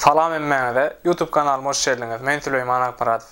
Salam hemmäňize, YouTube kanalyma hoş geldiňiz, men Süleýman Akmyradow.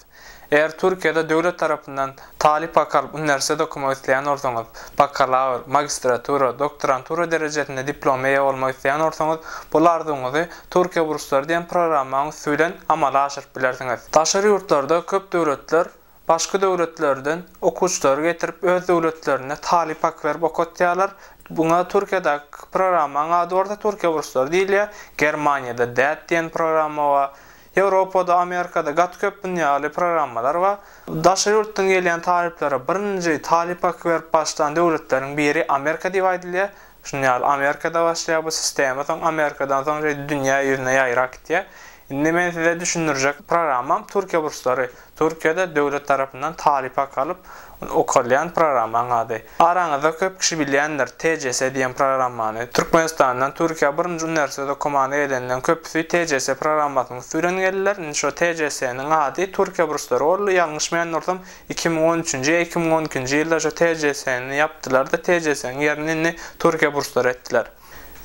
Eger Türkiýede döwlet tarapyndan talyp wakalyp uniwersitet okamak isleýän bolsaňyz, bakalawr, magistratura, doktorantura derejesinde diploma eýe bolmak isleýän bolsaňyz, bul arzuwyňyzy Türkiýe burslary diýen programmaň üsti bilen amala aşyryp bilersiňiz. Daşary ýurtlarda köp döwletler Başga döwletlerden okuwçylary getirip öz döwletlerinde talyp hak berip okatýarlar. Buňa Türkiýedäki programmaň ady bolsa Türkiýe burslary diýilýär. Germaniýada DAAD diýen programma bar. Ýewropada, Amerikada gaty köp bunun ýaly programmalar bar. Daşary ýurtdan gelýän talyplara birinji talyp haky berip başlan döwletleriň biri Amerika diýip aýdylýar. Şuny ýaly Amerikada başlaýar bu sistema soň Amerikadan soň şeýdip dünýä ýüzüne ýaýrap gitýär. Indi men size düşündirjek programmam Türkiýe burslary. Türkiýede döwlet tarapyndan talyp hak alyp okalýan programmaň ady. Araňyzda köp kişi bilýändir TCS diýen programmany. Türkmenistandan Türkiýä birinji uniwersitet okamana gelenden köpüsi TCS programmasynyň üsti bilen geldiler. Indi şo TCS-niň ady Türkiýe burslary boldy. Ýalňyşmaýan bolsam Iki müň on üçünji ýa iki müň on ikinji ýylda şu TCS-ni ýapdylar-da, TCS-niň ýerini indi Türkiýe burslary etdiler.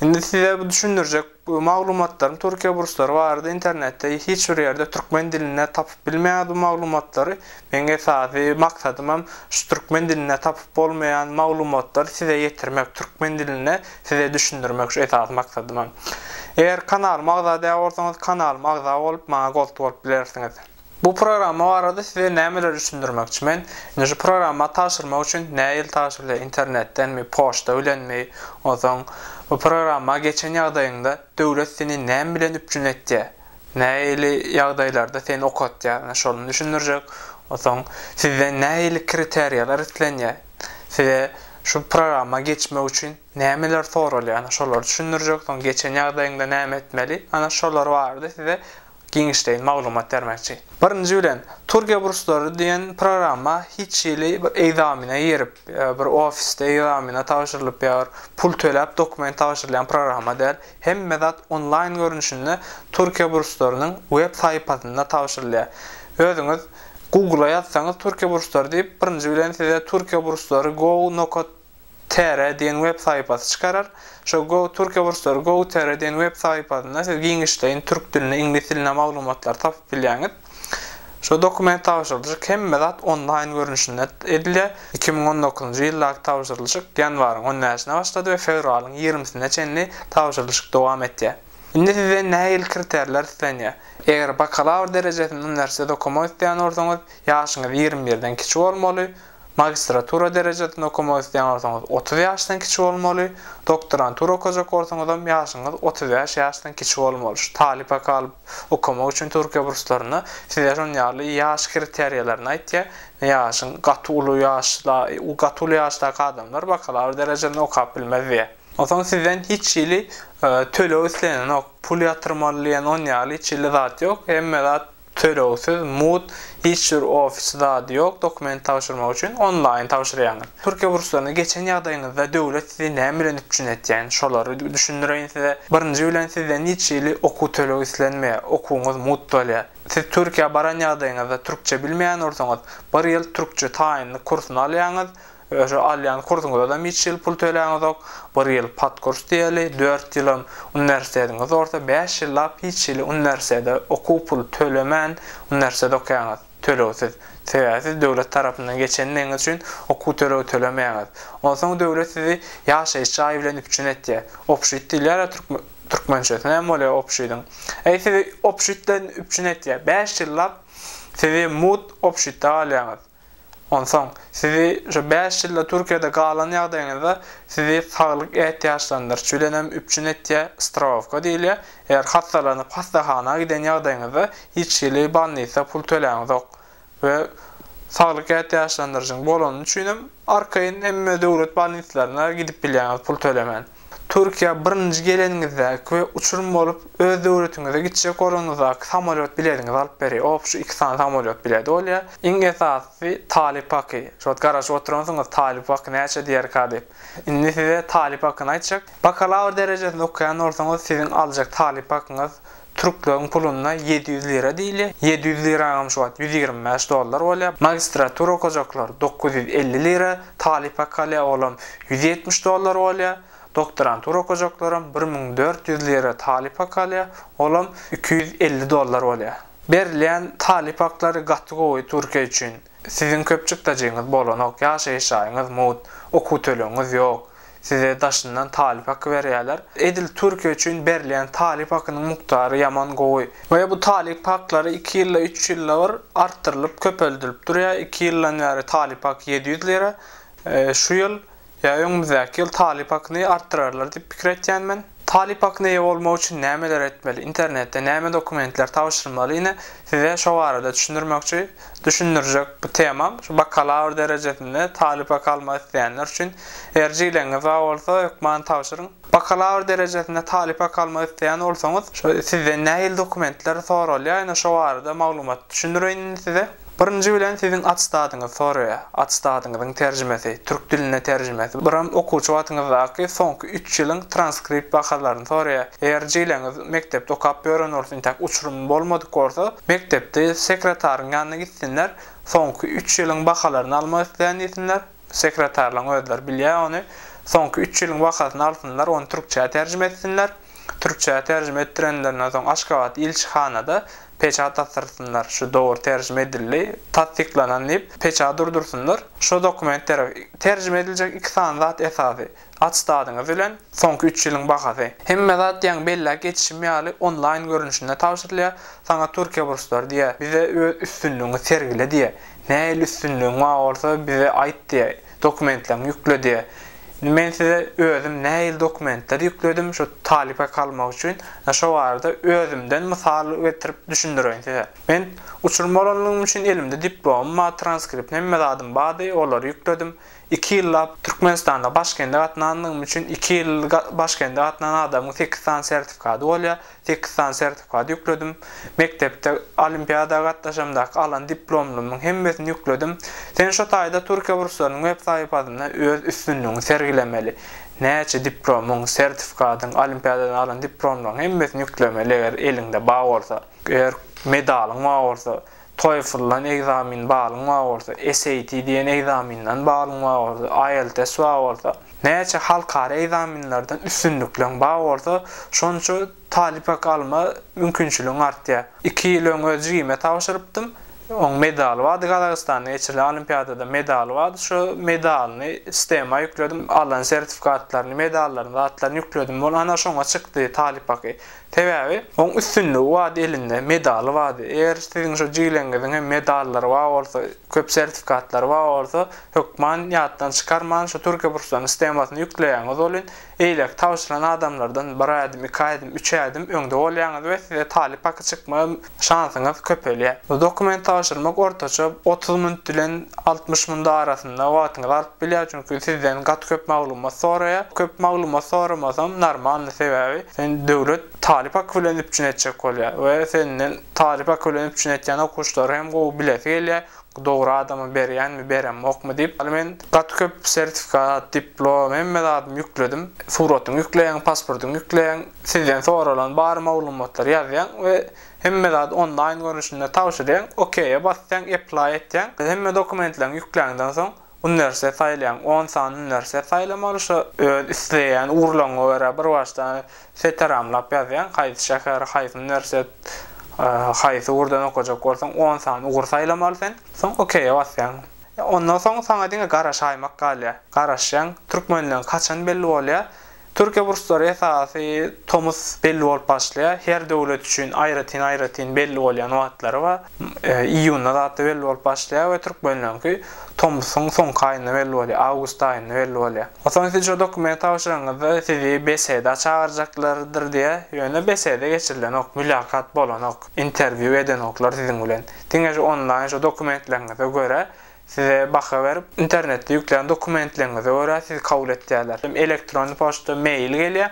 Indi size bu düşündirjek maglumatlarym Türkiýe burslary barada internetde hiç bir ýerde türkmen dilinde tapyp bilmeýäňiz bu maglumatlary. Meň esasy maksadym hem şu türkmen dilinde tapyp bolmaýan maglumatlary size ýetirmek, türkmen dilinde size düşündirmek şu esasy maksadym hem. Eger kanalyma agza däl bolsaňyz kanalyma agza bolup maňa gost bolup bilersiňiz. Bu programma barada size nämeleri düşündirmekçi men, indi şu programma tabşyrmak üçin nä ýyl tabşyrylýar internetdenmi, poçta bilenmi, onsoň bu programma geçen ýagdaýyňda döwlet seni näme bilen üpjün etýär, nähili ýagdaýlarda seni okatýar ine şony düşündirjek, onsoň sizden nähili kriteriýalar islenýär, size şu programma geçmek üçin nämeler soralýar ine şolary düşündirjek, soň geçen ýagdaýyňda näme etmeli, ana şolar barada size Giňişleýin maglumat bermekçi. Birinji bilen, Turkiýe burslary diýen programma hiç hili bir egzamine girip, bir ofisde egzamine tabşyrylyp ýa bir pul töläp dokument tabşyrylýan programma däl. Hemme zat onlaýn görnüşinde Türkiýe burslarynyň web saýpasynda tabşyrylýar. Özüňiz Google-a ýazsaňyz Türkiýe burslary diýip, birinji bilen size Türkiýe burslary go. Nokat Tr diýen web sahypasy çykarar. Şo Go Türkiýe burçlary Go Tr diýen web sahypasynda siz giňişleýin türk dilinde, iňlis dilinde maglumatlary tapyp bilýäňiz. Şo dokument tabşyrylyşyk hemme zat onlaýn görnüşinde edilýär. Iki müň on dokuzynjy ýyldaky tabşyrylyşyk ýanwaryň on bäşinde başlady we fewralyň ýigrimisine çenli tabşyrylyşyk dowam etýär. Indi sizden nähili kriterler islenýär? Eger bakalawr derejesini uniwersitet okamak isleýän bolsaňyz, ýaşyňyz ýigrimi birden kiçi bolmaly, Magistratura derejesini okamak isleýän bolsaňyz otuz ýaşdan kiçi bolmaly, doktorantura okaja korsuňyzam ýaşyňyz otuz bäş ýaşdan kiçi bolmalyş, talyp haky alyp okamak üçin Türkiýe burslarynda size şon ýaly ýaş kriteriýalaryny aýtýar, ýaşyň gaty uly ýaşda gaty uly ýaşdaky adamlar bakalawr derejesini okap bilmez diýýär. Onsoň sizden hiç hili töleg islenenok, pul ýatyrmaly diýen on ýaly hiç hili zat ýok, hemme zat Tölegsiz, mut, hiç jür ofis zady ýok, dokument tabşyrmak üçin onlaýyn tabşyrýaňyz. Türkiýe burslaryna geçen ýagdaýyňyzda döwlet sizi näme bilen üpjün etýän, şolary düşündireýin size. Birinji bilen sizden hiç hili okuw tölegi islenmeýär, okuwyňyz mut bolýar. Siz Türkiýä baran ýagdaýyňyzda türkçe bilmeýän bolsaňyz, bir ýyl türkçe taýynlyk kursuny alýaňyz, Öşo alýan kursuňyzadam hiç ýyl pul töläňizok, bir ýyl podkurs diýeli, dört ýylam uniwersitetiňiz bolsa bäş ýyllap hiç hili uniwersitete okuw puly tölemän uniwersitet okaýaňyz, tölegsiz. Sebäbi siz döwlet tarapyndan geçendigiňiz üçin okuw tölegi tölemeýäňiz. Onsoň döwlet sizi ýaşaýyş jaýy bilen üpjün etýär. Obşit diýilýär-ä türkmen türkmençesi näme bolýar obşidiň? Eý sizi obşit bilen üpjün etýär. Bäş ýyllap sizi mut obşitde galýaňyz. Onsoň, sizi şu bäş ýylda Türkiýede galan ýagdaýyňyzda sizi saglyk ätiýaçlandyryş bilen hem üpjün etýär, strowawka diýilýär. Eger hassalanyp hassahana giden ýagdaýyňyzda hiç hili bolnisa pul töläňizok we saglyk ätiýaçlandyryşyň bolany üçin hem arkaýyn hemme döwlet bolnislaryna gidip bilýäňiz pul tölemän. Türkiýä birinji geleniňizdäki we uçurym bolup öz döwletiňize gitjek bolanyňyzdaky samolýot bilediňizi alyp berýär. Op şu iki sany samolýot biledi bolýar. Iň esasysy talyp haky. Şu wagt garaşyp oturansyňyz talyp haky näçe diýerka diýip. Indi size talyp hakyny aýtjak. Bakalawr derejesinde okaýan bolsaňyz siziň aljak talyp hakyňyz Türkleriň puluna ýedi ýüz lira diýilýär. Ýedi ýüz liraňam şu wagt ýüz ýigrimi bäş dollar bolýar. Magistratura okajaklar dokuz ýüz elli lira, talyp hakalýa olam ýüz ýetmiş dollar bolýar. Doktorantura okajaklaram bir müň dört ýüz lira talyp hakalýa, olam iki ýüz elli dollar bolýar. Berilýän talyp haklary gaty gowy Türkiýe üçin. Siziň köp çykdajyňyz bolanok, ýaşaýyş jaýyňyz mut, okuw tölegiňiz ýok. Size daşyndan talyp haky berýärler. Edil Türkiýe üçin berilýän talyp hakynyň mukdary ýaman gowy. We bu talyp haklary iki ýylda, üç ýylda bir artdyrylyp, köpeldilip durýar. Iki ýyldan bäri talyp haky ýedi ýüz lira. Şu ýyl Ýa öňümizdäki ýyl talyp akyny artdyrarlar diýip pikir etýän men. Talyp akyna eýe bolmak üçin nämeler etmeli, internetde näme dokumentler tabşyrmaly ine size şo barada düşündirmekçi, düşündirjek bu temam şu bakalawr derejesinde talyp aky almak isleýänler üçin erjileňiz bar bolsa hökman tabşyryň. Bakalawr derejesinde talyp hak almak isleýän bolsaňyz, şo sizden nähili dokumentler soralýar, ine şo barada maglumat düşündireýin indi size. Birinji bilen siziň attestadyňyzy soraýar. Attestadyňyzyň terjimesi, türk diline terjimesi, biram okuwçy wagtyňyzdaky soňky üç ýylyň transkript wakalaryny soraýar. Eger jileňiz mekdepde okap ýören bolsa, intäk uçurymy bolmadyk bolsa, mekdepde sekretaryň ýanyna gitsinler, soňky üç ýylyň bakalaryny almak isleýän diýsinler. Sekretarlaň özleri bilýär ony. Soňky üç ýylyň bahasyny alsynlar, ony türkçä terjime etsinler. Türkçä terjime etdirenlerinden soň Aşgabat ilçihanada peçat asdyrsynlar, şu dogry terjime edildi, tassyklanan diýip, peçat urdursynlar. Şo dokumentlere terjime ediljek iki sany zat esasy. Attestadyňyz bilen soňky üç ýylyň bahasy. Hemme zat diýen belläp geçişim ýaly onlaýn görnüşinde tabşyrylýar, saňa Türkiýe burslary diýýär, bize öz üstünligiňi sergile diýýär, nähili üstünligiň bar bolsa bize aýt diýýär, dokumentleriňi ýükle diýýär. Indi men size özüm nähili dokumentleri ýükledim şu talyp haky almak üçin, ýa şo barada özümden mysal getirip düşündireýin size. Men uçurym bolanlygym üçin elimde diplomym bar, transkriptim hemme zadym bardy, olary ýükledim. Iki ýyllap Türkmenistanda Başkende gatnandygym üçin iki ýyl Başkende gatnan adamyň sekiz sany sertifikady bolýar. Sekiz sany sertifikady ýükledim. Mekdepde olimpiada gatnaşamdaky alan diplomlymyň hemmesini ýükledim. Sen şo taýda Türkiýe burslarynyň web sahypasynda öz üstünligiňi sergilemeli. Näçe diplomyň, sertifikadyň, olimpiadadan alan diplomlaryň hemmesini ýüklemeli eger eliňde bar bolsa. Eger medalyň bar bolsa. TOEFL-dan ekzamen balyň bar bolsa, SAT diýen ekzamenden balyň bar bolsa, IELTS bar bolsa, näçe halkara ekzamenlerden üstünlikleň bar bolsa, şonça talyp hak alma mümkinçiligiň artýar. Iki ýyl öň öz jigime tabşyrypdym. Oň medaly bardy, Gazagystanda geçirilen olimpiadada medaly bardy. Şo medalyny sistema ýükledim, alan sertifikatlaryny, medallaryny, zatlaryny ýükledim. Ol ana şoňa çykdy talyp haky. Sebäbi oň üstünligi bady elinde, medaly bady. Eger siziň şo jigileňiziň hem medallary bar bolsa, köp sertifikatlary bar bolsa, hökman ýatdan çykarman şo türkiýe burçlarynyň sistemasyna ýükleýäňiz welin, eýleki tabşyrylan adamlardan bir ädim, iki ädim, üç ädim öňde bolýaňyz we size talyp haky çykmaga şansyňyz köpelýär. Bu dokument tabşyrmak ortaça otuz minut bilen altmyş minut arasynda wagtyňyzy alyp bilýär, çünki sizden gaty köp maglumat soraýar. Köp maglumat soramasam normalny, sebäbi seni döwlet talyp haky bilen üpjün etjek bolýar we senden talyp haky bilen üpjün etýän okuwçylary hem gowy bilesi gelýär, Dogry adama berýänmi, beremokmy diýip, hany men gaty köp sertifikat, diplom, hemme zadymy ýükledim. Suratyňy ýükleýäň, pasportyňy ýükleýäň, sizden soralan bar maglumatlary ýazýaň we hemme zady onlaýn görnüşinde tabşyrýaň, okeýe basýaň, apply etýäň. Hemme dokumentleriňi ýükläňden soň. Hünärse saýlaň, on sany hünärse saýlamaly, şo öz isleýän ugurlaryňa görä bir başdan seteramlap ýazýaň, haýsy şäher, haýsy hünärset, haýsy ugurdan okajak bolsaň, on sany ugur saýlamaly sen, soň okeýe basýaň. Ondan soň saňa diňe garaşaýmak galýar. Garaşýaň, türkmenleň kaçany belli bolýar, Türkiýe burçlary esasy tomus belli bolup başlaýar. Her döwlet üçin aýratyn-aýratyn belli bolýan wagtlary bar. Iýunda zatda belli bolup başlaýar we türkmenleriňki tomusyň soňky aýynda belli bolýar, awgust aýynda belli bolýar. Onsoň siz şu dokumenti tabşyranyňyzda sizi BSED-a çagyrjaklardyr diýýär. Ýöne BSED-e geçirilenok, mülakaat bolanok, interwýu edenoklar siziň bilen. Diňe şu onlaýn şu dokumentleriňize görä Size baha berip, internetde ýüklän dokumentleriňize görä sizi kabul etýärler. Elektron poçta, mail gelýär.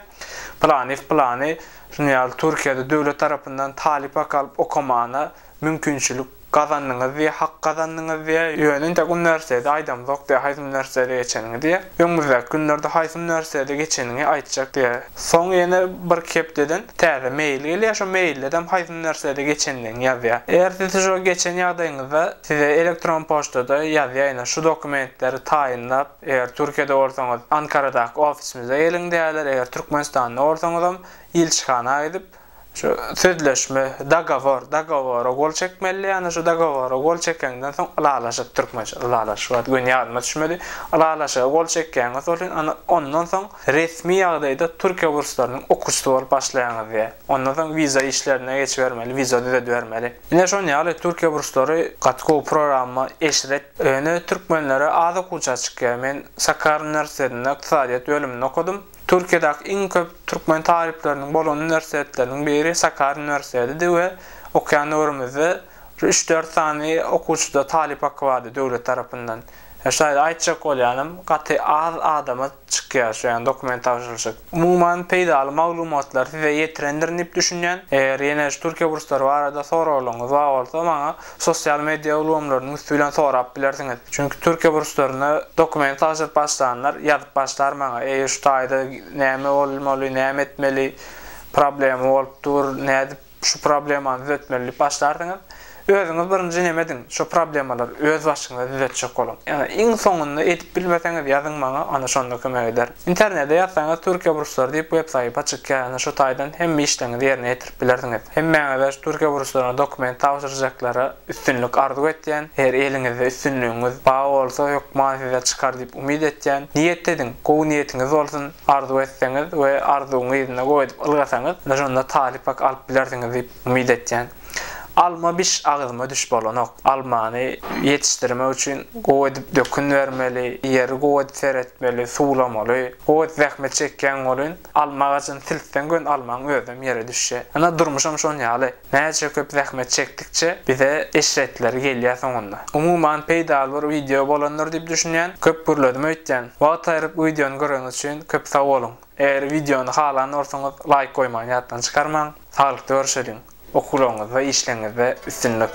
Pylanyýew pylany Rnyýaly Türkiýede döwlet tarapyndan talyp hak alyp okamagyna mümkinçilik gazandyňyz diýýär, hak gazandyňyz diýýär. Ýöne entek uniwersiteti aýdamzok diýýär, haýsy uniwersitede geçeniňi diýýär. Öňümizdäki günlerde haýsy uniwersitede geçeniňi aýtjak diýýär. Soň ýene birki hepdeden täze mail gelýär, şo mailledem haýsy nersede geçendigini ýazýar. Eger siz şo geçen ýagdaýyňyzda size elektron poçtada ýazýaýyna şu dokumentleri taýynlap, eger Türkiýede bolsaňyz Ankaradaky ofisimize geliň diýerler, eger Türkmenistanda bolsaňyzam ilçihana gidip, Şu sözleşme, dogowor, dogowora gol çekmeli, ýagny şu dogowora gol çekeňden soň ylalaşyk, türkmençe ylalaşyk ýa-da göni ýadyma düşmedi, ylalaşyga gol çekýäňiz welin ana ondan soň resmi ýagdaýda Türkiýe burslarynyň okuçysy bolup başlaýaňyz diýýär. Ondan soň wiza işlerine geçibermeli, wiza düzedibermeli. Ine şon ýaly Türkiýe burslary gaty gowy programma, eşret. Ýöne türkmenlere az okuwçy çykýar. Men Sakarya uniwersitetinde ykdysadyýet bölüminde okadym. Türkiýedäki iň köp türkmen talyplarynyň bolan uniwersitetleriň biri Sakarya uniwersitedidi we okaýan döwrümizde bir üç-dört sany okuwçyda talyp haky bardy döwlet tarapyndan. Ýa şaýly aýtjak bolýanam gaty az adama çykýar şu ýaly dokument tabşyryjak. Umuman peýdaly maglumatlary size ýetirendirin diýip düşünýän. Eger ýene şu Türkiýe burslary barada soraglaryňyz bar bolsa maňa. Sosial media ulgamlarynyň üsti bilen sorap bilersiňiz. Çünki Türkiýe burçlaryna dokument tabşyryp başlanlar ýazyp başlar maňa, eý şu taýda näme bolmaly, näme etmeli, problema bolup dur, nädip şu problemany düzetmeli diýip başlarsyňyz. Özüňiz birinji neme ediň, şo problemalary öz başyňyza düzetjek boluň. Ýa-da iň soňunda edip bilmeseňiz ýazyň maňa, onda şonda kömek ederin. Internede ýazsaňyz Türkiýe burçlary diýip web sahypa çykýar ýöne şu taýdan hemme işleriňizi ýerine ýetirip bilersiňiz. Hemmäňize şu Türkiýe burçlaryna dokument tabşyrjaklara üstünlik arzuw etýän, eger eliňizde üstünligiňiz ba bolsa hökman size çykar diýip umyt etýän. Niýet ediň, gowy niýetiňiz bolsun, arzuw etseňiz we arzuwyňy yzyna goýup ylgasaňyz ine şonda talyp hak alyp bilersiňiz diýip umyt etýän. Alma biş agzyma düş bolanok. Almany ýetişdirmek üçin gowy edip dökün bermeli, ýeri gowy edip seretmeli, suwlamaly. Gowy edip zähmet çekýäň welin, alma agajyny siltseň gön almaň özem ýere düşje. Ynha durmuşam şon ýaly. Näçe köp zähmet çekdikçe bize eşretleri gelýä soňunda. Umuman peýdaly bir wideo bolandyr diýip düşünýän. Köp gürledim öýtýän. Wagt aýryp wideony göreniňiz üçin köp sag boluň. Eger wideony halan bolsaňyz laýk goýmagy ýatdan çykarmaň. Saglykda görüşeliň. Okuwlaryňyzda, işleriňizde üstünlik.